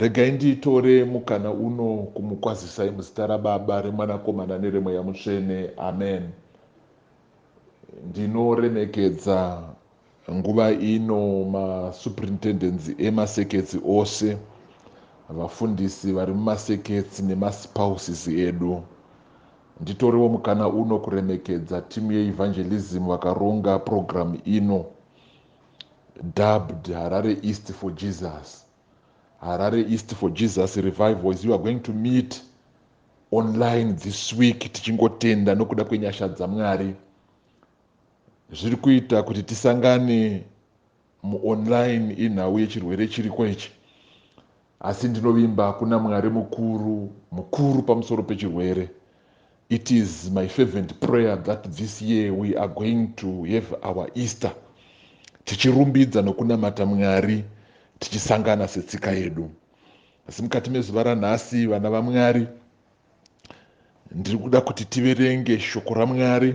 Regai nditore mukana uno kumukwazisai muzita raBaba, reMwanakomana nereMweya Mutsvene. Amen. Ndinoremekedza nguva ino masuprintendentsi emaseketsi ose, vafundisi vari mumaseketsi nemaspouses edu. Nditorewo mukana uno kuremekedza timu yeEvangelism vakaronga program ino. Dubbed Harare East for Jesus Harare East for Jesus revival is you are going to meet online this week tichingotenda nokuda kwenyasha dzaMwari zviri kuita kuti tisangane muonline inhau yechirwere chiriko ichi Asi ndinovimba kuna Mwari mukuru, mukuru pamusoro pechirwere. It is my fervent prayer that this year we are going to have our Easter tichirumbidza nokunamata Mwari tichisangana setsika yedu. Asi mukati mezuva ranhasi, vana vaMwari, ndiri kuda kuti tiverenge shoko raMwari.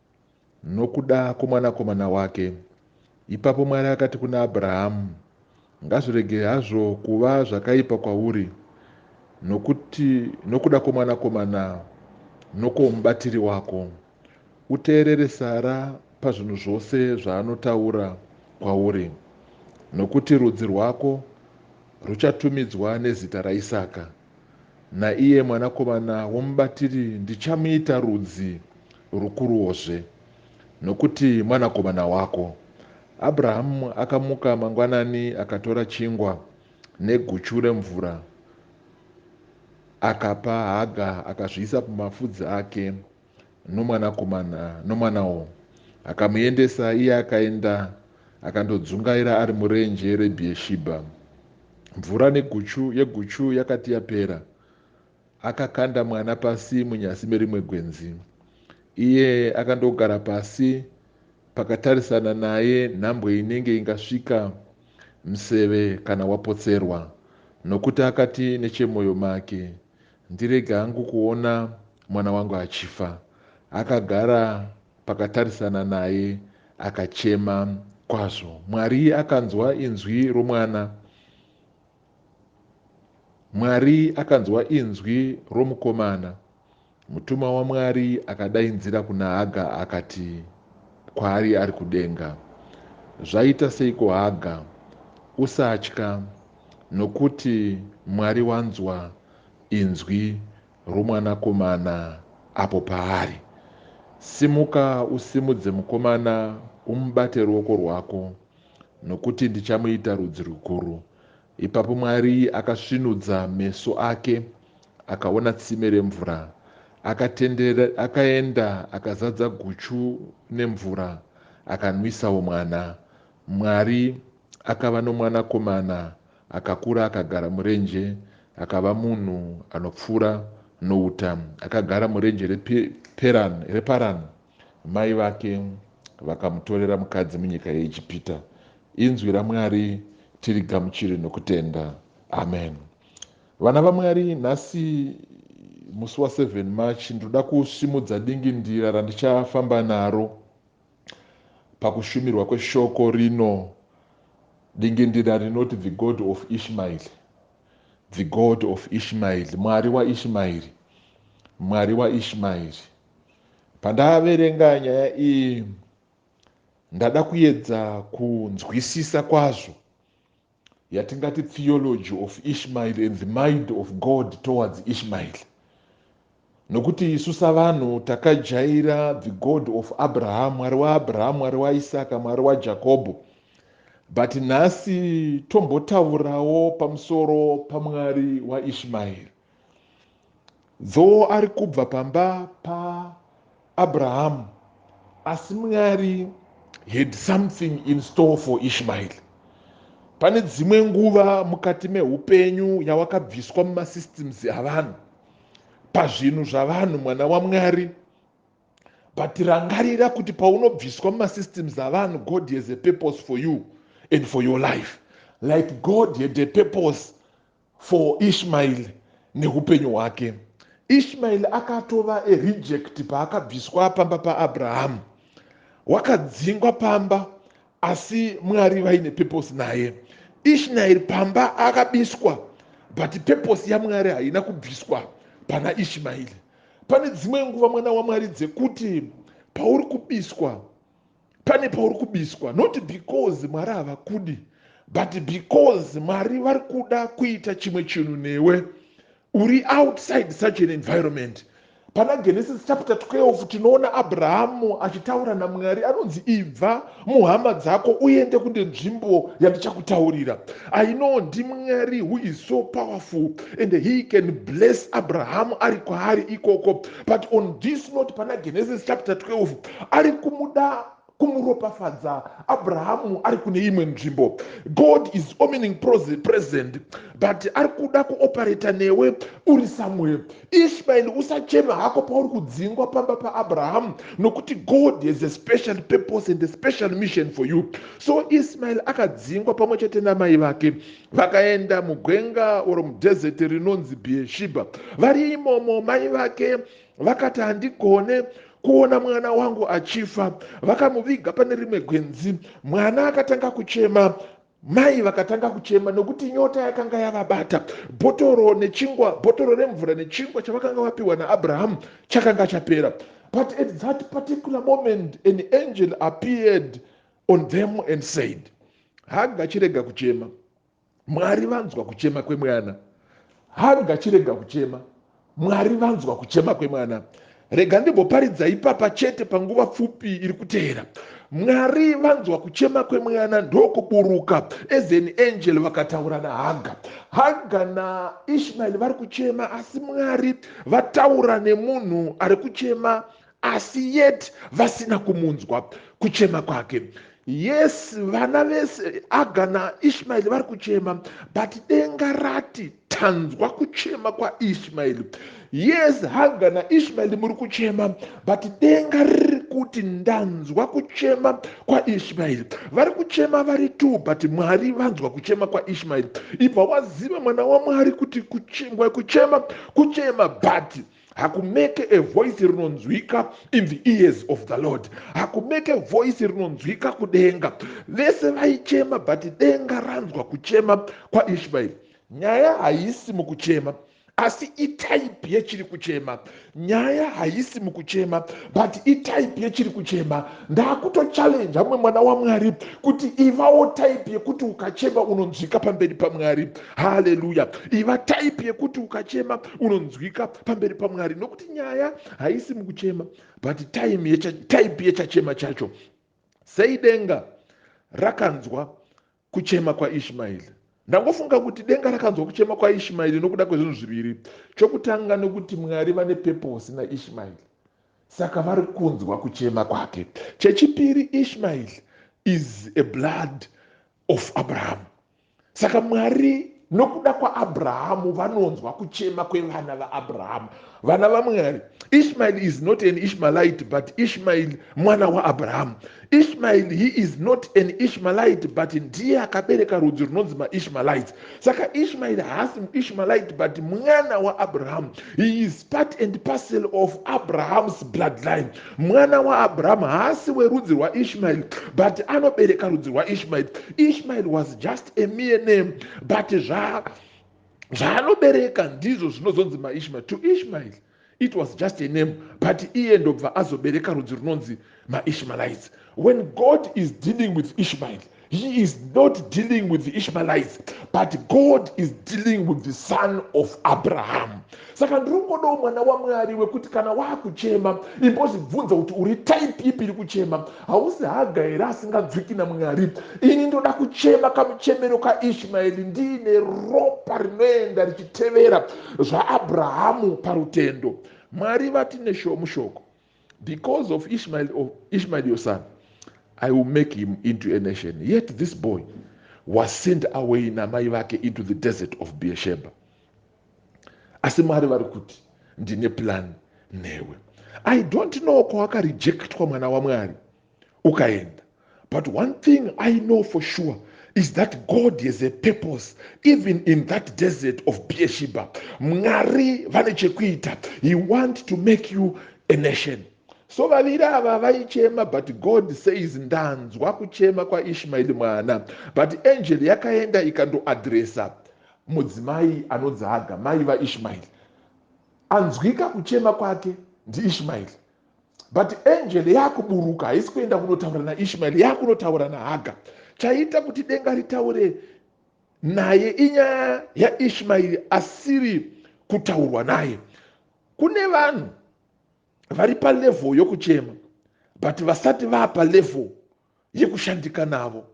Nokuda kwomwanakomana wake. Ipapo Mwari akati kuna Abrahamu, Ngazvirege hazvo kuva zvakaipa kwauri, nokuti nokuda kwomwanakomana nokwomubatiri wako, uteerere Sara pazvinhu zvose zvaanotaura kwauri, nokuti rudzi rwako ruchatumidzwa nezita raIsaka. naiye mwanakomana womubatiri ndichamuita rudzi rukuruwozve, nokuti mwanakomana wako. Abrahamu akamuka mangwanani akatora chingwa neguchu remvura, akapa Haga akazviisa pamafudzi ake. nomwanakomana nomwanawo akamuendesa iye akaenda akandodzungaira ari murenje reBhieshibha. Mvura neguchu yeguchu yakati yapera, akakanda mwana pasi munyasi merimwe gwenzi. Iye akandogara pasi pakatarisana naye nhambwe inenge ingasvika museve kana wapotserwa, nokuti akati nechemwoyo make, Ndirege hangu kuona mwana wangu achifa. Akagara pakatarisana naye akachema kwazvo. Mwari akanzwa inzwi romwana. Mwari akanzwa inzwi romukomana. Mutumwa waMwari akadainzira kuna Haga akati kwaari ari kudenga, Zvaita seiko Haga? Usatya. Nokuti Mwari wanzwa inzwi roMwanakomana apo paari, Simuka usimudze mukomana, umubate ruoko rwako, nokuti ndichamuita rudzi rukuru. Ipapo Mwari akasvinudza meso ake, akaona tsime remvura, akatendera, akaenda, akazadza guchu nemvura, akanwisawo mwana. Mwari. Akava nomwanakomana, akakura akagara murenje, akava munhu anopfuura nouta, akagara murenje reParani. Mai vake vakamutorera mukadzi munyika yeIjipita. Inzwi raMwari tirigamuchire nokutenda. Amen. Vana vaMwari, nhasi musi wa 7 March, ndinoda kusimudza dingindira randichafamba naro. pakushumirwa kweshoko rino dingindira rinoti the God of Ishmael, the God of Ishmael, Mwari waIshmaeri, Mwari waIshmaeri. Pandaverenga nyaya iyi ndada kuedza kunzwisisa kwazvo yatingati theology of Ishmael and the mind of God towards Ishmael nokuti isu savanhu takajaira the God of Abraham mwari waAbraham mwari waIsaka mwari waJakobho but nhasi tombotaurawo pamusoro pamwari waIshmael Dzoo ari kubva pamba pa Abraham asi Mwari had something in store for Ishmael. Pane dzimwe nguva mukati mehupenyu yawakabviswa muma systems avanhu, pazvinhu zvavanhu mwana waMwari but rangarira kuti paunobviswa muma systems avanhu God has a purpose for you and for your life like God had a purpose for Ishmael nehupenyu hwake. Ishmael akatova a reject paakabviswa pamba pa Abraham. Wakadzingwa pamba asi Mwari vaine purpose naye. Ishnael pamba akabiswa but purpose ya Mwari haina kubviswa pana Ishmael. Pane dzimwe nguva mwana wa Mwari dzekuti pauri kubiswa pane pauri kubiswa not because mwari havakudi but because mwari vari kuda kuita chimwe chinhu newe uri outside such an environment pana genesis chapter 12 tinoona abrahamu achitaura namwari anonzi ibva muhama dzako uende kunde nzvimbo yandichakutaurira i know ndimwari who is so powerful and he can bless abrahamu ari kwaari ikoko but on this note pana genesis chapter 12 ari kumuda kumuropafadza abrahamu ari kune imwe nzvimbo god is omining present but ari kuda kuoperata newe uri somewhere ishmael usachema hako pauri kudzingwa pamba paabrahamu nokuti god has a special purpose and a special mission for you so ismael akadzingwa pamwe chete namai vake vakaenda mugwenga oro mudhezeti rinonzi bhiyeshiba vari imomo mai vake vakati handigone kuona mwana wangu achifa vakamuviga pane rimwe gwenzi mwana akatanga kuchema mai vakatanga kuchema nokuti nyota yakanga yavabata bhotoro nechingwa bhotoro remvura nechingwa chavakanga vapiwa naabrahamu chakanga chapera but at that particular moment an angel appeared on them and said haga chirega kuchema Mwari vanzwa kuchema kwemwana. Haa ngachirega kuchema. Mwari vanzwa kuchema kwemwana. Rega ndimboparidza ipapa chete panguva pfupi iri kuteera. Mwari vanzwa kuchema kwemwana ndokuburuka as an angel vakataura naHaga. Haga naIshmael vari kuchema asi Mwari vataura nemunhu ari kuchema asi yet vasina kumunzwa kuchema kwake yes vana vese aga naishmaeri vari kuchema but denga rati tanzwa kuchema kwaishmaeri yes haga naishmaeri muri kuchema but denga riri kuti ndanzwa kuchema kwaishmaeri vari kuchema vari two but mwari vanzwa kuchema kwaishmaeri ibva waziva mwana wamwari kuti kuchema kuchema kuchema but hakumeke a voice rinonzwika in the ears of the lord hakumeke voice rinonzwika kudenga vese vaichema but denga ranzwa kuchema kwaishmaeri nyaya haisi mukuchema asi itype yechiri kuchema nyaya haisi mukuchema but itype yechiri kuchema ndakutochallenja mumwe mwana wamwari kuti ivawo type yekuti ukachema unonzwika pamberi pamwari haleluya iva type yekuti ukachema unonzwika pamberi pamwari nokuti nyaya haisi mukuchema but time yecha, type yechachema chacho sei denga rakanzwa kuchema kwaishmaeri ndangofunga kuti denga rakanzwa kuchema kwaishmaeri nokuda kwezvinhu zviviri chokutanga nokuti mwari vane peposi naishmaeri saka vari kunzwa kuchema kwake chechipiri ishmaeri is a blood of Abraham. Saka Mwari nokuda kwaAbrahamu vanonzwa kuchema kwevana vaAbrahamu. Vana vaMwari, Ishmael is not an Ishmaelite but Ishmael mwana waAbrahamu. Ishmael he is not an Ishmaelite but ndiye akabereka rudzi runonzi maIshmaelites. Saka Ishmael haasi muIshmaelite but mwana waAbrahamu. He is part and parcel of Abraham's bloodline. Mwana waAbraham haasi werudzi rwaIshmael but anobereka rudzi rwaIshmael. Ishmael was just a mere name but zva zvaanobereka ndizvo zvinozonzi maishmael to ishmael it was just a name but iye ndobva azobereka rudzi runonzi maishmaelites when god is dealing with ishmael He is not dealing with the Ishmaelites, but God is dealing with the son of Abraham. Saka ndiri kungodawo mwana waMwari wekuti kana waakuchema imbozvibvunza kuti uri type ipi iri kuchema. Hausi haga here asinganzwiki naMwari? Ini ndoda kuchema kamuchemero kaIshmaeri ndiine ropa rinoenda richitevera zvaAbrahamu parutendo. Mwari vati neshoo mushoko. Because of Ishmael, of Ishmael your son, I will make him into a nation. Yet this boy was sent away namai vake into the desert of Beersheba. Asi Mwari vari kuti ndine plan newe. I don't know kwawakarejectwa mwana waMwari. ukaenda but one thing i know for sure is that god has a purpose even in that desert of beershiba mwari vane chekuita he want to make you a nation so vaviri ava vaichema but god says ndanzwa kuchema kwaishmaeri mwana but angel yakaenda ikandoadresa mudzimai anonzi haga mai vaishmaeri anzwika kuchema kwake ndiishmaeri but angel yakuburuka haisi kuenda kunotaura naishmael yakunotaura nahaga chaiita kuti denga ritaure naye inyaya yaishmaeri asiri kutaurwa naye kune vanhu vari palevel yokuchema but vasati vapa level yekushandika navo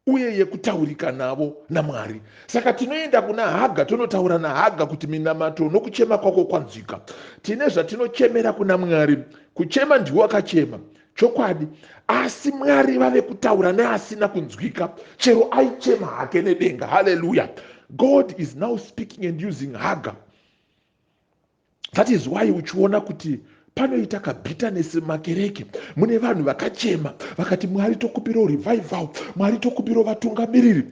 uye yekutaurika navo namwari saka tinoenda kuna haga tonotaura nahaga kuti minamato nokuchema kwako kwanzwika tine zvatinochemera kuna mwari kuchema ndiwo akachema chokwadi asi mwari vave kutaura neasina kunzwika chero aichema hake nedenga haleluya god is now speaking and using haga that is why uchiona kuti panoita kabitterness makereke mune vanhu vakachema vakati mwari tokupiro revival mwari tokupiro vatungamiriri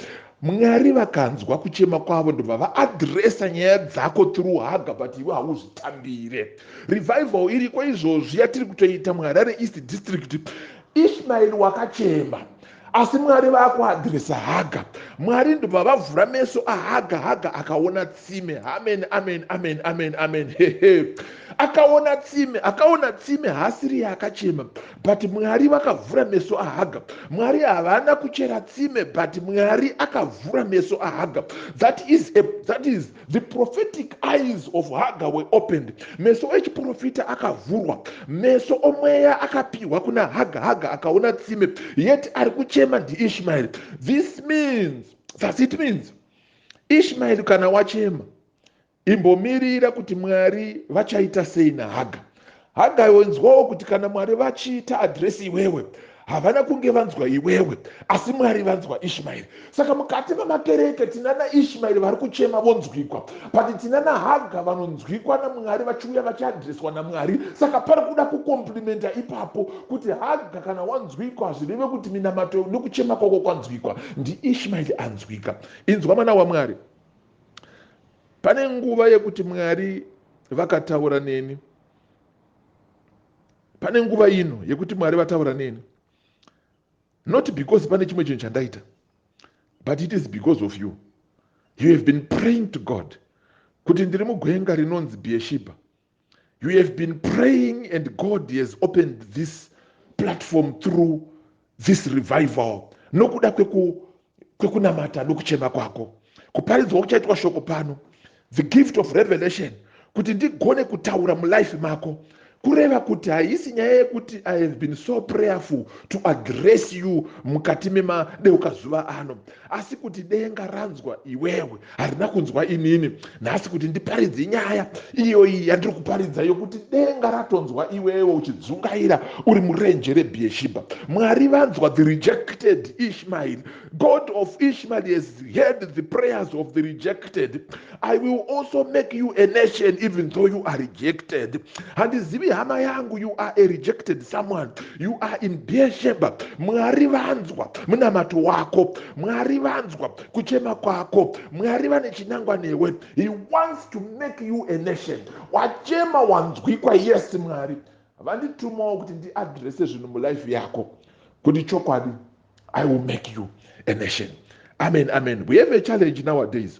mwari vakanzwa kuchema kwavo ndobva vaadresa nyaya dzako through haga but iwe hauzvitambire revival iriko izvozvi yatiri kutoita muharare east district ishmael wakachema asi mwari vakuadresa haga mwari ndobva vavhura meso ahaga haga akaona tsime amen amen amen amen amen hehe akaona tsime akaona tsime haasiri yaakachema but mwari vakavhura meso ahaga mwari havana kuchera tsime but mwari akavhura meso ahaga that is, a, that is The prophetic eyes of Hagar were opened. Meso echiprofita akavhurwa. Meso omweya akapiwa kuna Hagar. Hagar akaona tsime. Yet ari kuchema ndiIshmael. This means, thus it means, Ishmael kana wachema imbomirira kuti Mwari vachaita sei naHagar. Hagai wenzwawo kuti kana Mwari vachiita adresi iwewe havana kunge vanzwa iwewe asi mwari vanzwa ishmaeri saka mukati memakereke tina naishmaeri vari kuchema vonzwikwa but tina nahaga vanonzwikwa namwari vachiuya vachiadreswa namwari saka pari kuda kukomplimenta ipapo kuti haga kana wanzwikwa hazvireve kuti minamato nekuchema kwako kwanzwikwa ndiishmaeri anzwika inzwa mwana wamwari Pane nguva yekuti Mwari vakataura neni. Pane nguva ino yekuti Mwari vataura neni. Not because pane chimwe chinhu chandaita. But it is because of you. You have been praying to God. Kuti ndiri mugwenga rinonzi Beersheba. you have been praying and god has opened this platform through this revival nokuda kwekunamata nokuchema kwako kuparidzwa kuchaitwa shoko pano the gift of revelation kuti ndigone kutaura mulife mako kureva kuti haisi nyaya yekuti i have been so prayerful to address you mukati memadeukazuva ano asi kuti denga ranzwa iwewe harina kunzwa inini nhasi kuti ndiparidze nyaya iyoyi yandiri kuparidza yokuti denga ratonzwa iwewe uchidzungaira uri murenje rebhieshiba mwari vanzwa the rejected ishmael god of ishmael has heard the prayers of the rejected I will also make you a nation even though you are rejected. Handizivi hama yangu, you are a rejected someone. You are in Beersheba. Mwari vanzwa munamato wako. Mwari vanzwa kuchema kwako. Mwari vane chinangwa newe. He wants to make you a nation. Wachema wanzwikwa, yes Mwari. Vanditumawo kuti ndiadrese zvinhu mulife yako. Kuti chokwadi, I will make you a nation. Amen, amen. We have a challenge nowadays.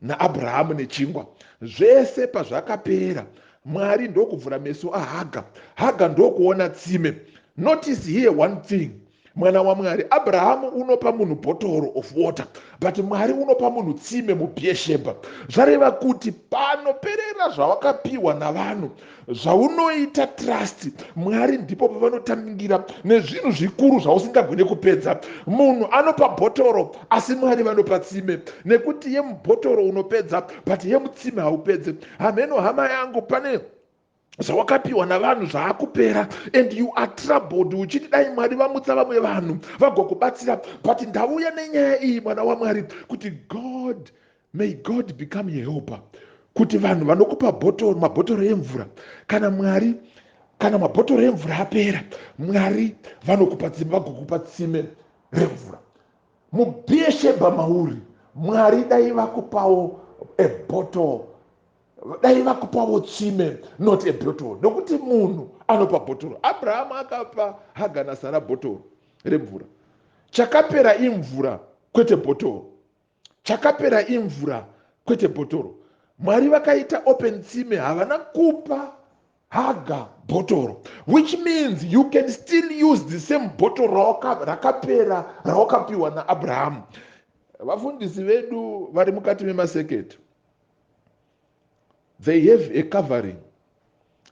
naAbrahamu nechingwa. Zvese pazvakapera Mwari ndokuvhura meso aHaga. Haga ndokuona tsime. Notice here one thing mwana waMwari. Abrahamu unopa munhu bhotoro of water but Mwari unopa munhu tsime muBeersheba. Zvareva kuti panoperera zvawakapiwa navanhu Zvaunoita trust Mwari ndipo pavanotangira nezvinhu zvikuru zvausingagone kupedza. Munhu anopa bhotoro asi Mwari vanopa tsime nekuti yemubhotoro unopedza but yemutsime haupedze. Hamheno hama yangu pane zvawakapiwa navanhu zvaakupera and you are troubled uchiti dai mwari vamutsa vamwe vanhu vagokubatsira but ndauya nenyaya iyi mwana wamwari kuti god May God become your helper kuti vanhu vanokupa bhotoro mabhotoro emvura kana mwari kana mabhotoro emvura apera mwari vanokupa tsime vagokupa tsime remvura mubhieshebha mauri mwari dai vakupawo ebhotoro dai vakupawo tsime not ebhotoro nokuti munhu anopa bhotoro abrahama akapa haga nasara bhotoro remvura chakapera imvura kwete bhotoro Chakapera imvura kwete bhotoro. Mwari vakaita open tsime havana kupa haga bhotoro which means you can still use the same bhotoro rakapera rawakapiwa naAbrahamu. Vafundisi vedu vari mukati memaseketi. they have a covering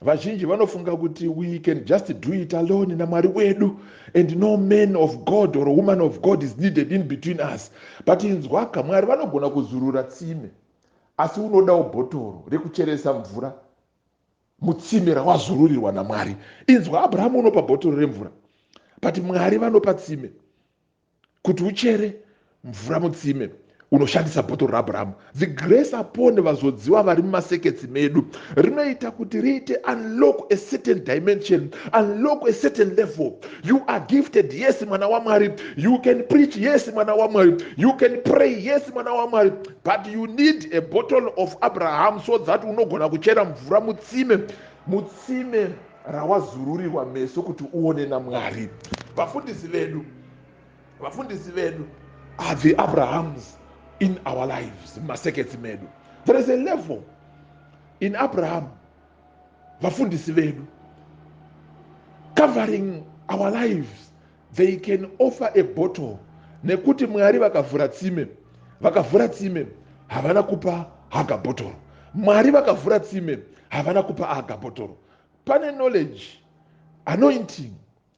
vazhinji vanofunga kuti we can just do it alone namwari wedu and no man of god or woman of god is needed in between us but inzwaka mwari vanogona kuzurura tsime asi unodawo bhotoro rekucheresa mvura mutsime rawazururirwa namwari inzwa abrahamu unopa bhotoro remvura but mwari vanopa tsime kuti uchere mvura mutsime unoshandisa bhotoro raAbrahamu. The grace upon vazodziwa vari mumaseketsi medu rinoita kuti riite unlock a certain dimension, unlock a certain level. You are gifted, yes mwana waMwari. You can preach, yes mwana waMwari. You can pray, yes mwana waMwari. But you need a bottle of Abraham so that unogona kuchera mvura mutsime, mutsime rawazururirwa meso kuti uone naMwari. Vafundisi vedu, vafundisi vedu are the Abrahams in our lives, mumaseketsi medu. There is a level in Abraham, vafundisi vedu, covering our lives They can offer a bottle nekuti Mwari vakavhura tsime vakavhura tsime havana kupa haga botoro Mwari vakavhura tsime havana kupa haga botoro pane knowledge anointing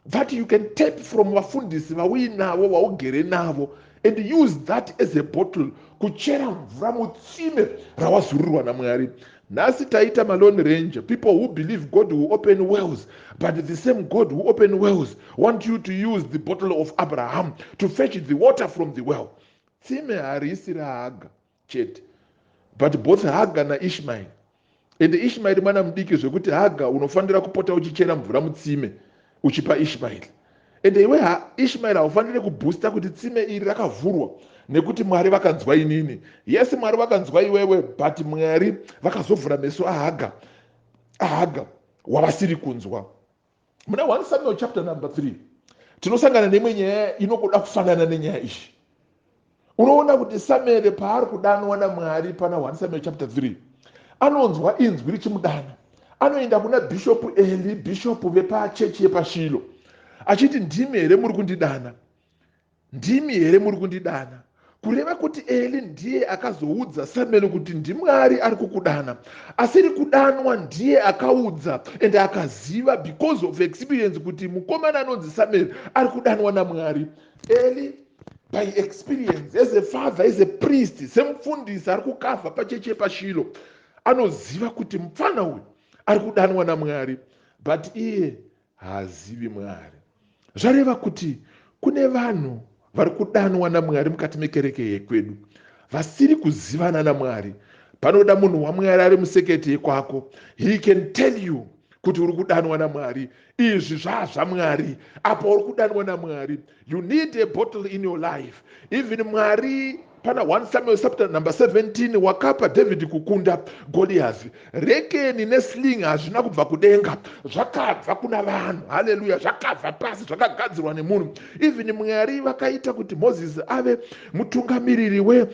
that you can tap from vafundisi vauinavo vaugere navo and use that as a bottle kuchera mvura mutsime rawazururirwa namwari Nhasi taita ma lone ranger people who believe God will open wells but the same God who open wells want you to use the bottle of Abraham to fetch the water from the well. Tsime harisi ra Haga chete but both Haga na Ishmael ende Ishmael mwana mudiki zvekuti Haga unofanira kupota uchichera mvura mutsime uchipa Ishmael ende iwe ha Ishmael haufanire kubooster kuti tsime iri rakavhurwa nekuti Mwari vakanzwa inini yes Mwari vakanzwa iwewe but Mwari vakazovhura meso ahaga ahaga wavasiri kunzwa muna 1 Samuel chapter number 3 tinosangana neimwe nyaya inogoda kufanana nenyaya iyi Unoona kuti Samueri paari kudanwa naMwari pana 1 Samueri chapter 3 anonzwa inzwi richimudana. Anoenda kuna Bishop Eli, Bishop vepachechi yepaShilo achiti ndimi here muri kundidana? Ndimi here muri kundidana? kureva kuti eli ndiye akazoudza samueri kuti ndimwari ari kukudana asiri kudanwa ndiye akaudza and akaziva because of experience kuti mukomana anonzi samueri ari kudanwa namwari Eli by experience as a father as a priest semufundisi ari kukavha pachechi yepashilo anoziva kuti mupfana uyu ari kudanwa namwari but iye haazivi mwari zvareva kuti kune vanhu vari kudanwa namwari mukati mekereke yekwedu vasiri kuzivana namwari panoda munhu wamwari ari musekete yekwako he can tell you kuti uri kudanwa namwari izvi zvaazvamwari apa uri kudanwa namwari you need a bottle in your life even mwari pana 1 samuel chapter number 17 wakapa david kukunda goliazi rekeni nesling hazvina kubva kudenga zvakabva kuna vanhu haleluya zvakabva pasi zvakagadzirwa nemunhu even mwari vakaita kuti moses ave mutungamiriri we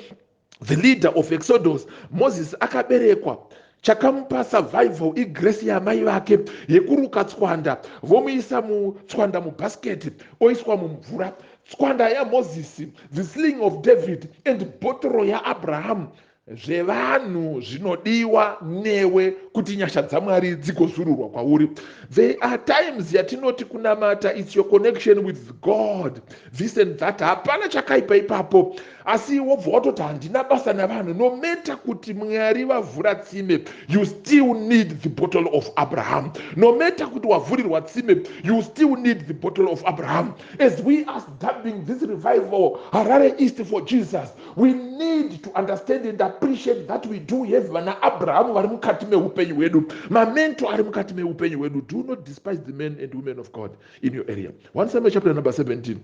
The leader of Exodus, Moses akaberekwa. Chakamupa survival igrace yaamai vake yekuruka tswanda vomuisa mutswanda mubasket oiswa mumvura. Tswanda yaMoses, the sling of David and botoro yaAbraham zvevanhu zvinodiwa newe kuti nyasha dzaMwari dzigozururwa kwauri. There are times yatinoti kunamata it's your connection with God this and that. Hapana chakaipa ipapo. Asi wobva watoti handina basa navanhu no matter kuti Mwari vavhura tsime you still need the bottle of Abraham. No matter kuti wavhurirwa tsime you still need the bottle of Abraham. As we are dubbing this revival Harare East for Jesus we need to understand and appreciate that we do have vana Abraham vari mukati mehupenyu hwedu. Mamento ari mukati mehupenyu hwedu. Do not despise the men and women of God in your area. 1 Samuel chapter number 17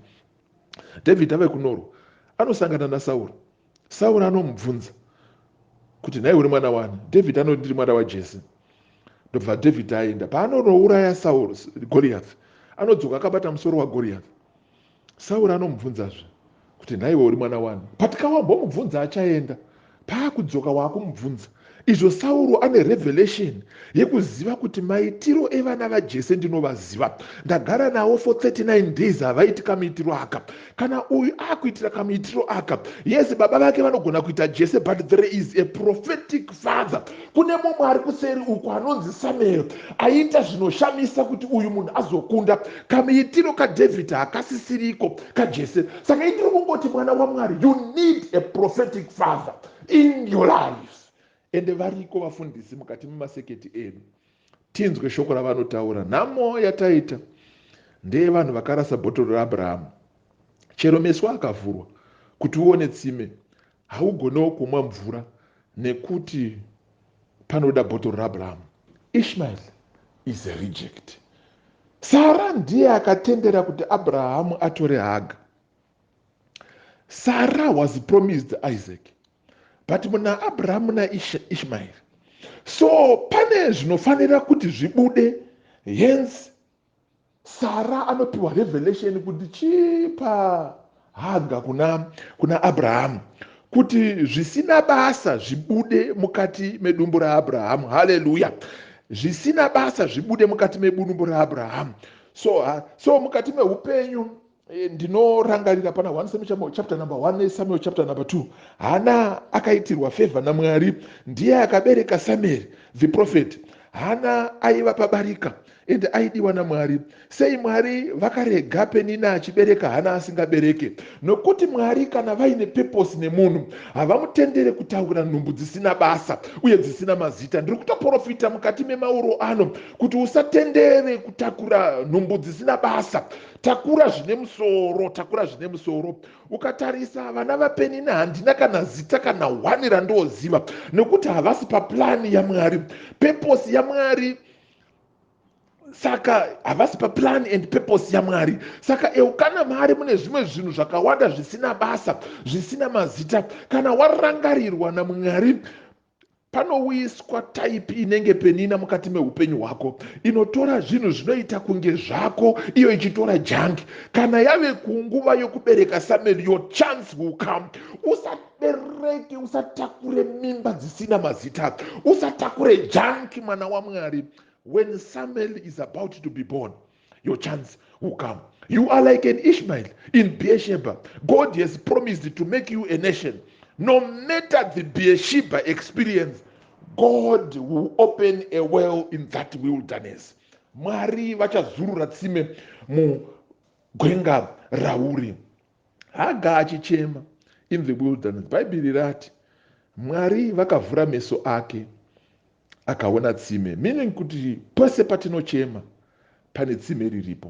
Dhavhidhi ave kunorwa, anosangana naSauro. Sauro anomubvunza kuti, Nhai, uri mwana wani? Dhavhidhi anoti, Ndiri mwana waJese. Ndobva Dhavhidhi aenda. Paanonouraya Sauro, Goriyathi, anodzoka akabata musoro waGoriyathi. Sauro anomubvunzazve kuti, Nhaiwe uri mwana wani? But ka wambomubvunza achaenda. Paakudzoka waakumubvunza izvo Sauro ane revelation yekuziva kuti maitiro evana vaJese ndinovaziva ndagara navo for 39 days havaiti kamuitiro aka kana uyu akuitira kamuitiro aka yes baba vake vanogona kuita Jese but there is a prophetic father Kune mumwe ari kuseri uku anonzi Samueri aiita zvinoshamisa kuti uyu munhu azokunda. Kamuitiro kaDhavhidhi hakasisiriko kaJese. Saka ini ndiri kungoti mwana waMwari, you need a prophetic father in your life. Ende variko vafundisi mukati memaseketi edu. Tinzwe shoko ravanotaura. Nhamo yataita ndeyevanhu vakarasa bhotoro raAbrahamu. Chero meso akavhurwa kuti uone tsime, haugonewo kumwa mvura nekuti panoda bhotoro raAbrahamu. Ishmael is a reject. Sara ndiye akatendera kuti Abrahamu atore Haga. Sara was promised Isaac. but muna abrahamu naishmaeri so pane zvinofanira kuti zvibude hence sara anopiwa revelation kuti chipa haga kuna, kuna abrahamu kuti zvisina basa zvibude mukati medumbu raabrahamu haleluya zvisina basa zvibude mukati mebunumbu raabrahamu so, so mukati meupenyu Eh, ndinorangarira pana 1 samuel chapter number 1 nesamuel chapter number 2 hana akaitirwa favor namwari ndiye akabereka samuel the prophet hana aiva pabarika ende aidiwa namwari sei mwari vakarega penina achibereka hana asingabereke nokuti mwari kana vaine peposi nemunhu havamutendere kutaura nhumbu dzisina basa uye dzisina mazita ndiri kutoprofita mukati memauro ano kuti usatendere kutakura nhumbu dzisina basa Takura zvine musoro, takura zvine musoro. Ukatarisa vana vapenina handina kana zita kana one randooziva nekuti havasi paplan yaMwari. Purpose yaMwari saka havasi paplan and purpose yaMwari. Saka Eukana Mari mune zvimwe zvinhu zvakawanda zvisina basa, zvisina mazita. Kana warangarirwa naMwari Panouyiswa type inenge penina mukati mehupenyu hwako inotora zvinhu zvinoita kunge zvako iyo ichitora junk. Kana yave kunguva yokubereka Samuel your chance will come. Usabereke, usatakure mimba dzisina mazita. Usatakure junk mwana waMwari when Samuel is about to be born. your chance will come. You are like an Ishmael in Beersheba. God has promised to make you a nation. No matter the Beersheba experience, God will open a well in that wilderness. Mwari vachazurura tsime mugwenga rauri. Haga achichema in the wilderness. Bhaibheri rati Mwari vakavhura meso ake. Akaona tsime meaning kuti pose patinochema pane tsime riripo.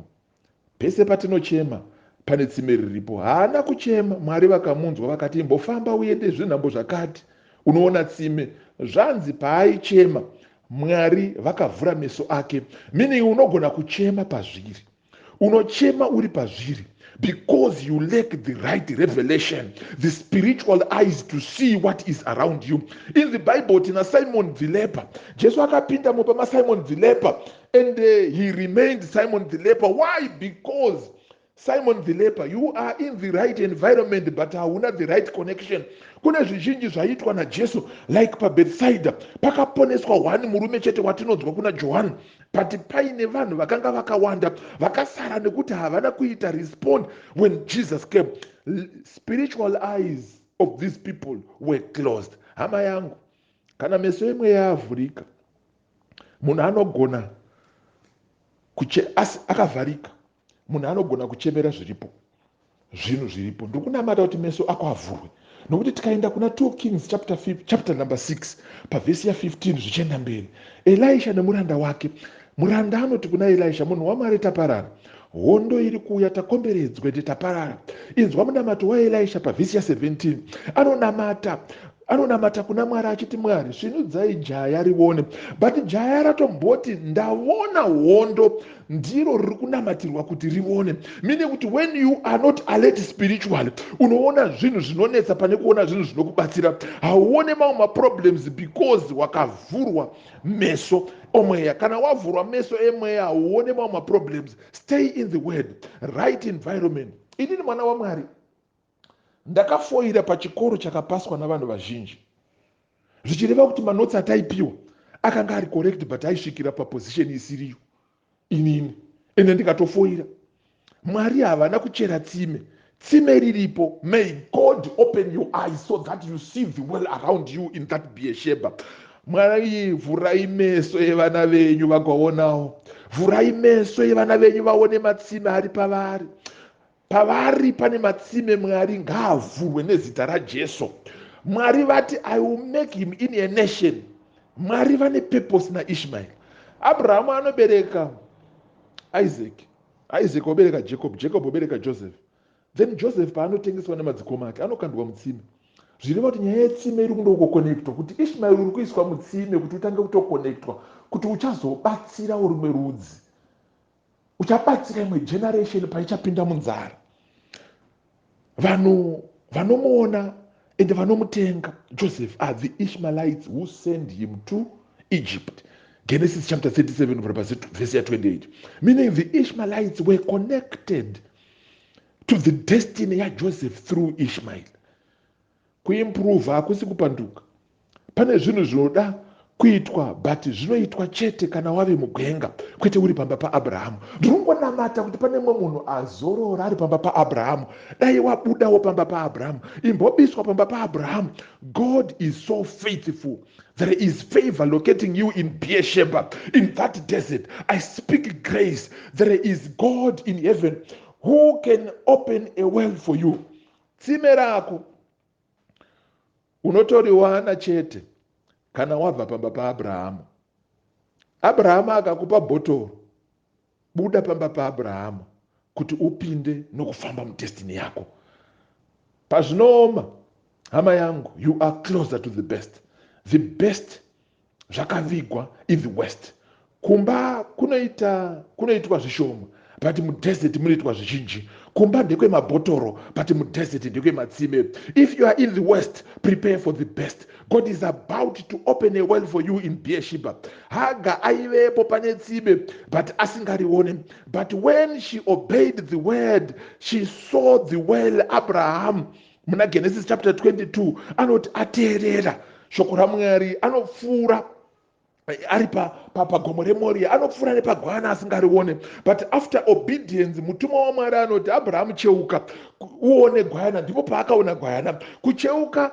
Pese patinochema pane tsime riripo. Haana kuchema, Mwari vakamunzwa vakati imbofamba uende zvenhambo zvakati unoona tsime. Zvanzi paaichema Mwari vakavhura meso ake meaning unogona kuchema pazviri. unochema uri pazviri because you lack the right revelation the spiritual eyes to see what is around you in the bible tina simon the leper jesu akapinda mupa masimon the leper and uh, he remained simon the leper why because simon the leper you are in the right environment but hauna the right connection kune zvizhinji zvaiitwa najesu like pabethsaida pakaponeswa one murume chete watinonzwa kuna johani but paine vanhu vakanga vakawanda vakasara nekuti havana kuita respond when jesus came spiritual eyes of these people were closed hama yangu kana meso yemweya yavhurika munhu anogona kuche asi akavharika munhu anogona kuchemera zviripo zvinhu zviripo ndiri kunamata kuti meso ako avhurwe nokuti tikaenda kuna 2 kings chapter, 5, chapter number 6 pavhesi ya15 zvichienda mberi elisha nemuranda wake muranda anoti kuna elisha munhu wamwari taparara hondo iri kuuya takomberedzwa ende taparara inzwa munamato waelisha pavhesi ya17 anonamata Anonamata kuna Mwari achiti Mwari svinudzai jaya rione but jaya ratomboti ndavona hondo ndiro riri kunamatirwa kuti rione meaning kuti when you are not alert spiritually unoona zvinhu zvinonetsa pane kuona zvinhu zvinokubatsira hauone mamwe maproblems because wakavhurwa meso omweya kana wavhurwa meso emweya hauone mamwe maproblems stay in the word right environment inini mwana wamwari Ndakafoira pachikoro chakapaswa navanhu vazhinji zvichireva kuti manotes ataipiwa akanga ari correct but aisvikira paposition isiriyo inini ende ndikatofoira. Mwari havana kuchera tsime, tsime riripo. May God open your eyes so that you see the world around you in that Beersheba. Mwari vhurai meso evana venyu vagaonawo, vhurai meso evana venyu vaone matsime ari pavari. pavari pane matsime mwari ngaavhurwe nezita rajesu mwari vati i will make him in a nation mwari vane purpose naishmael abrahamu anobereka isaac isaac obereka jacob jacob obereka joseph then joseph paanotengeswa nemadzikoma ake anokandwa mutsime zvireva kuti nyaya yetsime iri kundokokonektwa kuti ishmael uri kuiswa mutsime kuti utange kutokonektwa kuti uchazobatsirawo rimwe rudzi uchabatsira imwe generation paichapinda munzara vanhu vanomuona and vanomutenga joseph are the ishmaelites who send him to egypt genesis chapter 37 kubvira pasi vhesi ya 28 meaning the ishmaelites were connected to the destiny yajoseph through ishmael Kuimprove hakusi kupanduka. Pane zvinhu zvinoda kuitwa but zvinoitwa chete kana wave mugwenga kwete uri pamba paabrahamu ndirongonamata kuti pane mumwe munhu azorora ari pamba paabrahamu dai wabudawo pamba paabrahamu imbobiswa pamba paabrahamu god is so faithful there is favor locating you in beersheba in that desert i speak grace there is god in heaven who can open a well for you Tsime rako unotoriwana chete kana wabva pamba paAbrahamu. Abrahamu akakupa bhotoro, buda pamba paAbrahamu kuti upinde nokufamba mudestiny yako. Pazvinooma, hama yangu, you are closer to the best. The best zvakavigwa in the west kumba kunoita kunoitwa zvishoma but mudesert munoitwa zvizhinji kumba ndekwemabhotoro but mudesert ndekwematsime if you are in the west prepare for the best god is about to open a well for you in beershiba haga aivepo pane tsime but asingarione but when she obeyed the word she saw the well abraham muna genesis chapter 22 anoti ateerera shoko ramwari anopfuura eh, ari pagomo remoriya anopfuura nepagwana asingarione but after obedience mutumwa wamwari anoti abrahamu cheuka uone gwayana ndipo paakaona gwayana kucheuka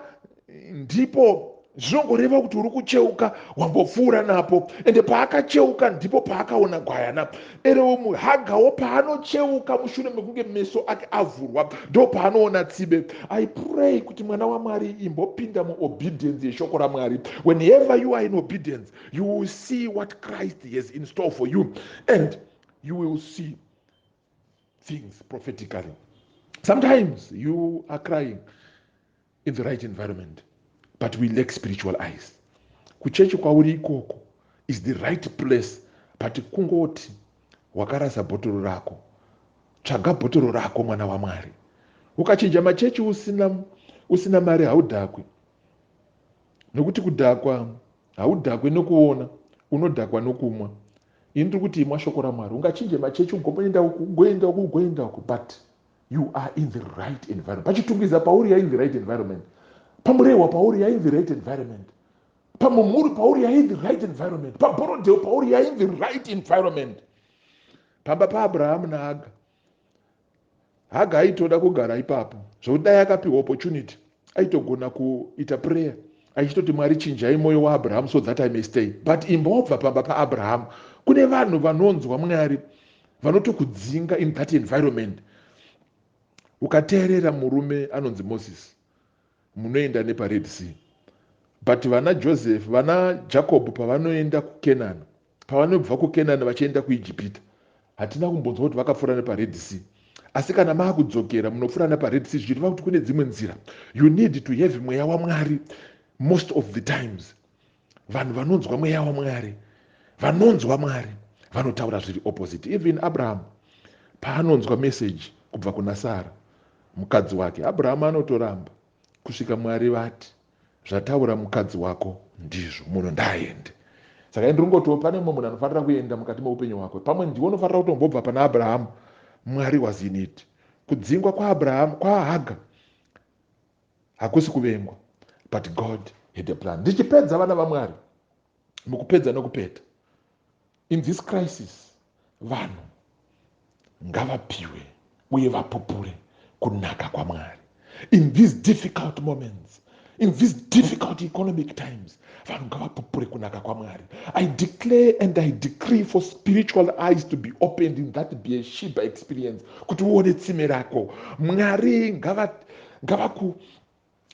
ndipo Zvinongoreva kuti uri kucheuka wambopfuura napo. Ende paakacheuka ndipo paakaona gwayana. Erewo muhagawo paanocheuka mushure mekunge meso ake avhurwa ndo paanoona tsibe. I pray kuti mwana waMwari imbopinda mu obedience yeshoko raMwari. Whenever you are in obedience you will see what Christ has in store for you and you will see things prophetically. Sometimes you are crying in the right environment but we lack spiritual eyes kuchechi kwauri ikoko is the right place but kungoti wakarasa bhotoro rako tsvaga bhotoro rako mwana wamwari ukachinja machechi usina usina mari haudhakwi nokuti kudhakwa haudhakwe nokuona unodhakwa nokumwa ini ndiri kuti imwa shoko ramwari ungachinje machechi ugoenda uku ugoenda uku ugoenda uku but you are in the right environment pachitungwiza pauri you're in the right environment pamurehwa pauri you're in the right environment pamumhuri pauri you're in the right environment paborodheo pauri you're in the right environment pamba paabrahamu naaga haga aitoda kugara ipapo zvokuti dai akapiwa opportunity aitogona kuita prayer achitoti mwari chinjai mwoyo waabrahamu so that i may stay but imba wabva pamba paabrahamu kune vanhu vanonzwa mwari vanotokudzinga in that environment ukateerera murume anonzi moses munoenda nepared sea but vana joseph vana jacob pavanoenda kukenani pavanobva kukenani vachienda kuijipita hatina kumbonzwa kuti vakapfuura nepared sea asi kana maakudzokera munopfuura nepared sea zvichireva kuti kune dzimwe nzira you need to have mweya wamwari most of the times vanhu vanonzwa mweya wamwari vanonzwa mwari vanotaura zviri opposite even abrahamu paanonzwa meseji kubva kuna sara mukadzi wake abrahamu anotoramba kusvika mwari vati zvataura mukadzi wako ndizvo munhu ndaaende saka ende ringoti pane mumwe munhu anofanira kuenda mukati meupenyu hwako pamwe ndiwo unofanira kutombobva pana abrahamu mwari was in it kudzingwa kwaabrahamu kwaahaga hakusi kuvengwa but god had a plan ndichipedza vana vamwari mukupedza nokupeta in this crisis vanhu ngavapiwe uye vapupure kunaka kwamwari in these difficult moments in these difficult economic times vanhu ngavapupure kunaka kwamwari i declare and i decree for spiritual eyes to be opened in that beeshiba experience kuti uone tsime rako mwari ngavaku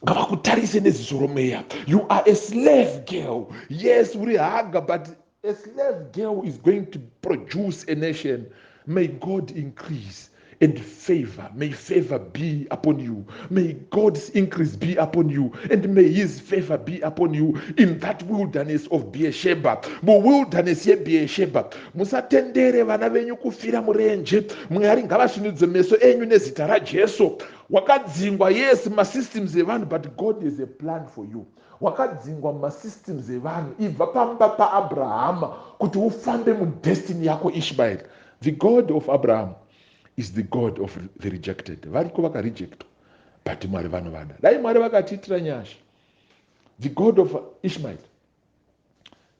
ngavakutarise neziso romweya you are a slave girl yes uri haga but A slave girl is going to produce a nation. May God increase and favor. May favor be upon you. May God's increase be upon you. And may his favor be upon you in that wilderness of Beersheba. Mu wilderness ye Beersheba. Musatendere vana venyu kufira murenje. Mwari ngavasvinudze meso enyu nezita raJesu. Wakadzingwa yes masystems evanhu but God has a plan for you. Wakadzingwa mumasystems evanhu ibva pamba paAbrahama kuti ufambe mudestiny yako Ishmael. The God of Abraham is the God of the rejected. Variko vakarejectwa but Mwari vanovada. Dai Mwari vakatiitira nyasha. The God of Ishmael.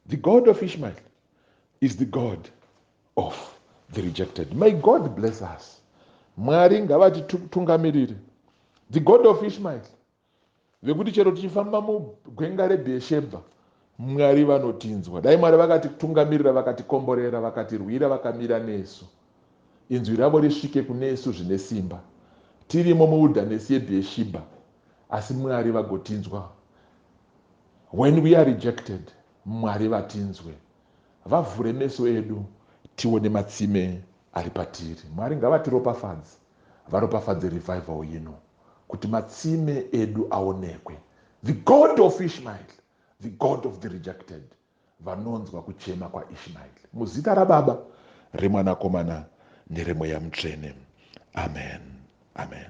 The God of Ishmael is the God of the rejected. May God bless us. Mwari ngavatitungamirire. The God of Ishmael Vekuti chero tichifamba mugwenga reBheeshebha, Mwari vanotinzwa. Dai Mwari vakatitungamirira, vakatikomborera, vakatirwira, vakamira nesu. Inzwi ravo risvike kunesu zvine simba, tirimo muwilderness yeBheeshibha, asi Mwari vagotinzwa. When we are rejected, Mwari vatinzwe. Vavhure meso edu tione matsime ari patiri. Mwari ngavatiropafadze. varopafadze revival yino kuti matsime edu aonekwe the God of Ishmael the God of the rejected vanonzwa kuchema kwa Ishmael muzita rababa remwanakomana neremweya mutsvene amen amen